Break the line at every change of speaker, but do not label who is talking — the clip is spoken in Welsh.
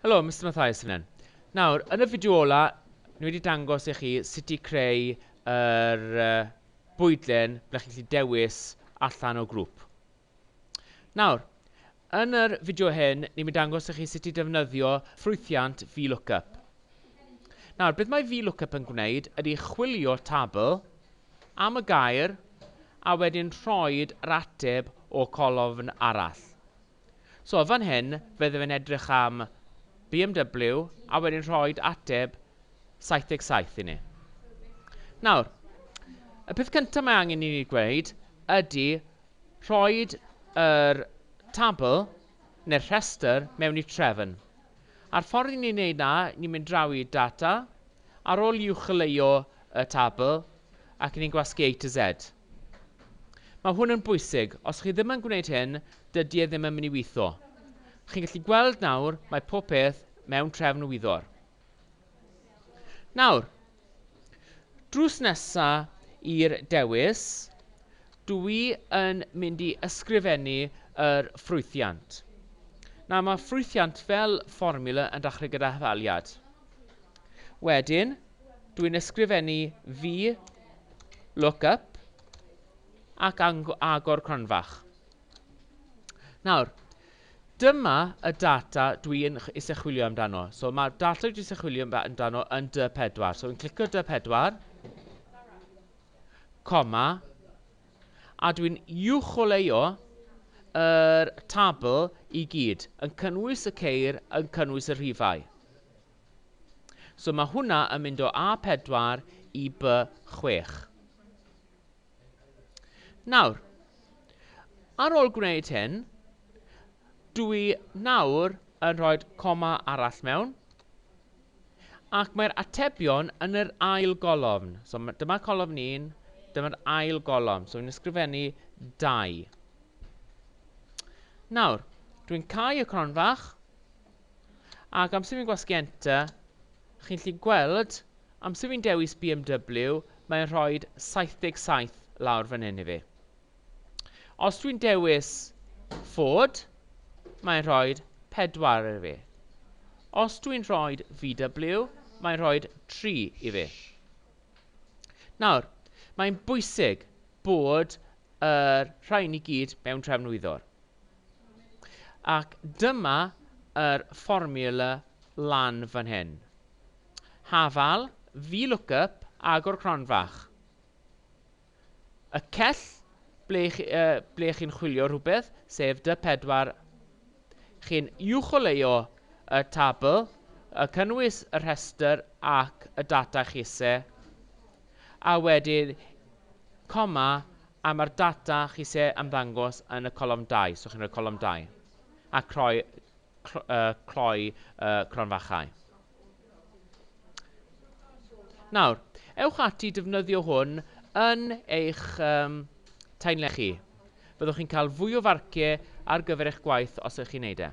Helo, Mister Mathias sy'n fan hyn. Nawr, yn y fideo ola, ni wedi dangos i chi sut i creu yr uh, bwydlen ble chi'n gallu dewis allan o grŵp. Nawr, yn yr fideo hyn, ni'n mynd dangos i chi sut i defnyddio ffrwythiant VLOOKUP. Nawr, beth mae VLOOKUP yn gwneud ydy chwilio tabl am y gair a wedyn rhoid yr ateb o colofn arall. So, fan hyn, fydde fe'n edrych am BMW a wedyn rhoid ateb 77 i ni. Nawr, y peth cyntaf mae angen i ni gweud ydy rhoid yr tabl neu'r rhestr mewn i trefn. A'r ffordd i ni wneud na, ni'n mynd draw i data, ar ôl i uwcholeuo y tabl, ac ni'n gwasgu A to Z. Mae hwn yn bwysig, os chi ddim yn gwneud hyn, dydy e ddim yn mynd i weithio. Chi'n gallu gweld nawr, mae pob peth mewn trefn wyddor. Nawr, Drws nesa i'r dewis, dw i yn mynd i ysgrifennu yr ffrwythiant. Nawr mae ffrwythiant fel fformiwla yn dachrau gyda hafaliad. Wedyn, dw i'n ysgrifennu fi look up ac agor cronfach. Nawr, Dyma y data dwi yn ch- isie chwilio amdano. So mae'r data dwi isie chwilio am- amdano yn dy 4. So fi'n clicio dy 4, coma, a dwi'n uwcholeuo yr tabl i gyd, yn cynnwys y ceir, yn cynnwys y rhifau. So mae hwnna yn mynd o A4 i B6. Nawr, ar ôl gwneud hyn, dw i nawr yn rhoi coma arall mewn, ac mae'r atebion yn yr ail golofn. So, dyma colofn 1, dyma'r ail golofn. So, i'n ysgrifennu 2. Nawr, dwi'n cau y cronfach, Ac amser fi'n gwasgu enter, chi'n gallu gweld, amser fi'n dewis BMW, mae'n rhoi 77 lawr fan hyn i fi. Os dwi'n dewis Ford, mae'n rhoi 4 i fi. Os dwi'n rhoi VW, mae'n rhoi 3 i fi. Nawr, mae'n bwysig bod yr rhain i gyd mewn trefnwyddwr. Ac dyma yr fformiwla lan fan hyn. Hafal, VLOOKUP, agor cronfach. Y cell ble, uh, ble chi'n chwilio rhywbeth, sef dy 4 Chi'n uwcholeuo y tabl, y cynnwys y rhestr ac y data chise, a wedyn coma A mae'r data chi isie ymddangos yn y colofn dau, so chi'n rhoi colofn dau, a croi, cloi y cronfachau. Nawr, ewch ati i defnyddio hwn yn eich um, taenle chi. Fyddwch chi'n cael fwy o farciau ar gyfer eich gwaith os ydych chi'n neud e.